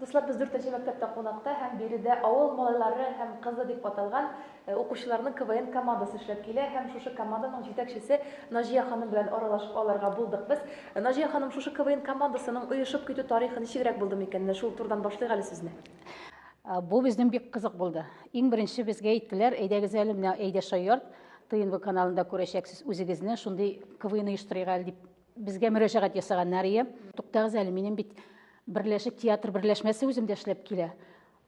Дуслар, без дүртенче мәктәптә кунакта һәм биредә авыл малайлары һәм кызы дип аталган э, укучыларның КВН командасы эшләп килә һәм шушы команданың җитәкчесе Наҗия ханым белән аралашып алырга булдык без. Э, Наҗия ханым, шушы КВН командасының оешып китү тарихы ничегрәк булды микән? Менә шул турыдан башлыйк әле сүзне. Э, Бу безнең бик кызык булды. Иң беренче безгә әйттеләр, әйдәгез әле менә Әйдә Шаярт ТНВ каналында күрәчәксез үзегезне, шундый КВН оештырыйк әле дип Безгә мөрәҗәгать ясаганнар ие. Туктагыз әле, минем бит берләшек театр берләшмәсе үземдә эшләп килә.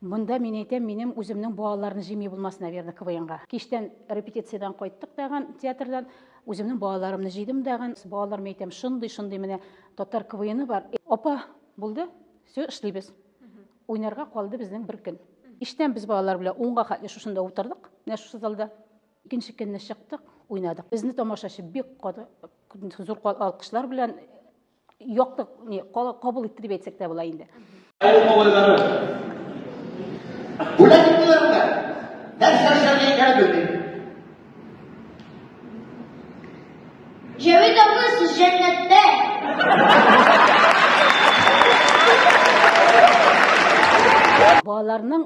Монда мин әйтәм, минем үземнең балаларны җими булмас, наверное, КВНга. Кичтән репетициядән кайттык тагын театрдан, үземнең балаларымны җыйдым дагын. Балаларыма әйтәм, шундый, шундый менә татар КВНы бар. Апа, булды, все, эшлибез. Уйнарга калды безнең бер көн. Кичтән без балалар белән унга хәтле шушында утырдык, менә шушы залда. Икенче көнне чыктык, уйнадык. Безне тамашачы бик зур алкышлар белән яктык, не, кабул итте дип әйтсәк тә була инде. Бүләк иттеләр дә. Нәрсә эшләргә икәнен белмим. Җәвит абый, сез җәннәттә. Балаларның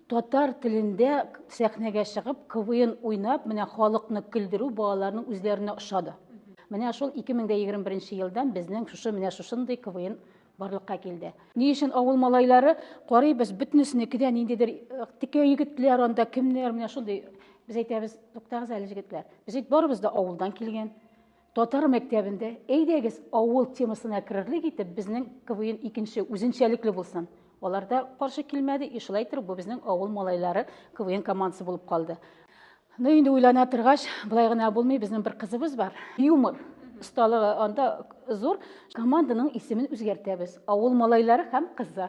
Татар телендә сәхнәгә чыгып, КВН уйнап, менә халыкны көлдерү балаларның үзләренә ошады. Менә шул 2021 елдан безнең шушы менә шушындый КВН барлыкка килде. Ни өчен авыл малайлары карыйбыз, бөтенесенеке дә ниндидер э, текә егетләр анда, кемнәр менә шундый. Без әйтәбез, туктагыз әле җегетләр. Без бит барыбыз да авылдан килгән. Татар мәктәбендә, әйдәгез, авыл темасына керерлек итеп, безнең КВН икенче үзенчәлекле булсын. Алар да каршы килмәде, и шулай итеп бу безнең авыл малайлары КВН командасы булып калды. Ну инде уйлана торгач, былай гына булмый, безнең бер кызыбыз бар. Юмор осталыгы анда зур. Команданың исемен үзгәртәбез. Авыл малайлары һәм кызы.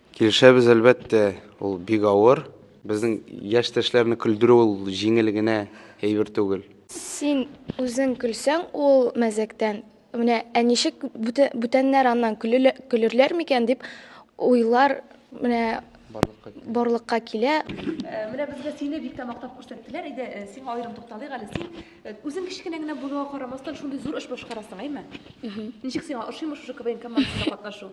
Килешәбез, әлбәттә, ул бик авыр. Безнең яшьтәшләрне көлдерү ул җиңел генә әйбер түгел. Син үзең көлсәң ул мәзәктән, менә ә ничек бүтәннәр аннан көлерләр микән дип уйлар менә барлыкка килә. Менә безгә сине бик тә мактап күрсәттеләр иде, сиңа аерым тукталыйк әле. Син үзең кечкенә генә булуга карамастан, шундый зур эш башкарасың, әйме? Ничек сиңа ошыймы шушы КВН командасында катнашу?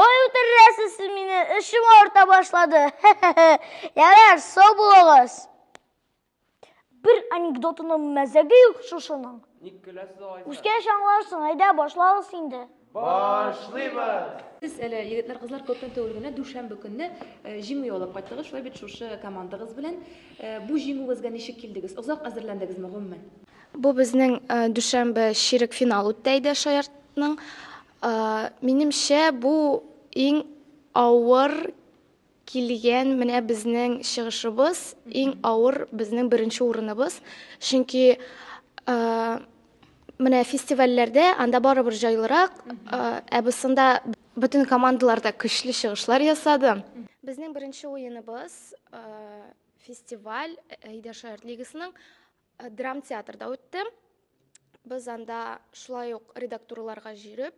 Ой, үтерәсез сез мине, эшем арта башлады. Ярар, сау булыгыз. Бер анекдотының мәзәге юк шушының. Ник көләсез алайса? Үскәч аңларсың, әйдә башларыз инде. Башлыйбыз! Сез әле егетләр, кызлар күптән түгел генә дүшәмбе көнне э, җиңү яулап кайттыгыз. Шулай бит шушы командагыз белән. Э, Бу җиңүегезгә ничек килдегез? Озак әзерләндегезме гомумән? Бу безнең дүшәмбе чирек финал үтте Әйдә шаяртның. Минемчә, бу иң авыр килгән менә безнең чыгышыбыз, иң авыр безнең беренче урыныбыз. Чөнки менә фестивальләрдә анда барыбер җайлырак, ә бусында бөтен командалар да көчле чыгышлар ясады. Безнең беренче уеныбыз фестиваль Әйдә шаярт лигасының Э, драмтеатрда үтте без анда шулай ук редактурларга җөреп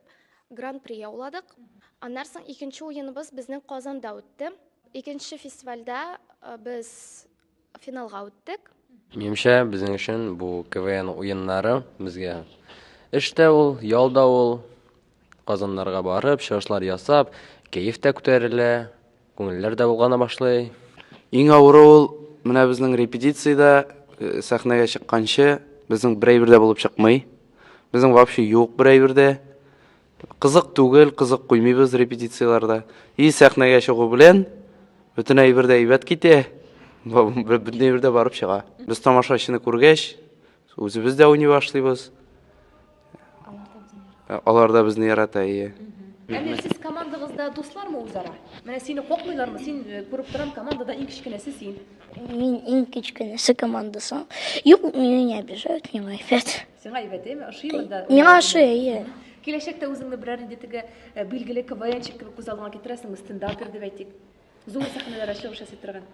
гран при яуладык аннан соң икенче уеныбыз безнең казанда үтте икенче фестивальдә э, без финалга үттек минемчә безнең өчен бу квн уеннары безгә эш тә ул ял да ул Казаннарга барып, чыгышлар ясап, кәеф тә күтәрелә, күңелләр дә болгана башлый. Иң авыры ул менә безнең репетициядә э, сәхнәгә чыкканчы безнең бер әйбер дә булып чыкмый. Безнең вообще юк бер әйбер дә. Кызык түгел, кызык куймыйбыз репетицияләрдә. И сәхнәгә чыгу белән бөтен әйбер дә әйбәт китә. Бу- бу- Бөтен әйбер дә барып чыга. Без тамашачыны күргәч, Үзебез дә уйный башлыйбыз. Алар да безне ярата, ие. Әмир, сез командагызда дуслармы үзара? Менә сине кокмыйлармы? Син э, күреп торам, командада иң кечкенәсе син. Мин иң кечкенәсе командасы. Юк, мине не обижают, не лайфят. Сиңа әйбәт, әйме? Ошыймы да? Миңа ошый, әйе. Киләчәктә үзеңне берәр инде теге э, билгеле КВНчик кебек күз алдыңа китерәсеңме? Стендапер дип әйтик. Зур сәхнәләрдә чыгыш ясый торган.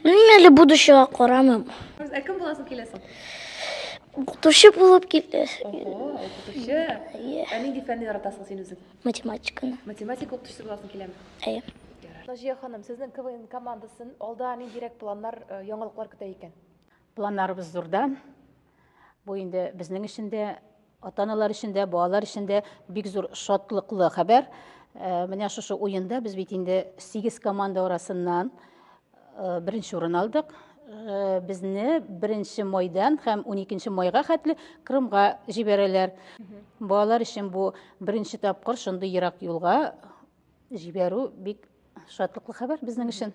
Белмим әле будущего карамыйм. Ә кем буласың киләсең? Укытучы булып килде. Ого, укытучы. Иә. Ә нинди фәнне яратасың син үзең? Математиканы. Математика укытучысы буласың киләме? Әйе. Наҗия ханым, сезнең КВН командасын алда ниндирәк планнар, э, яңалыклар көтә икән? Планнарыбыз зурда. Бу инде безнең өчен дә, ата-аналар өчен дә, балалар өчен дә бик зур шатлыклы хәбәр. Э, менә шушы уенда без бит инде 8 команда арасыннан э, беренче урын алдык. Э, безне беренче майдан һәм 12 майга хәтле Крымга җибәрәләр. Балалар өчен бу беренче тапкыр шундый ерак юлга җибәрү бик шатлыклы хәбәр безнең өчен.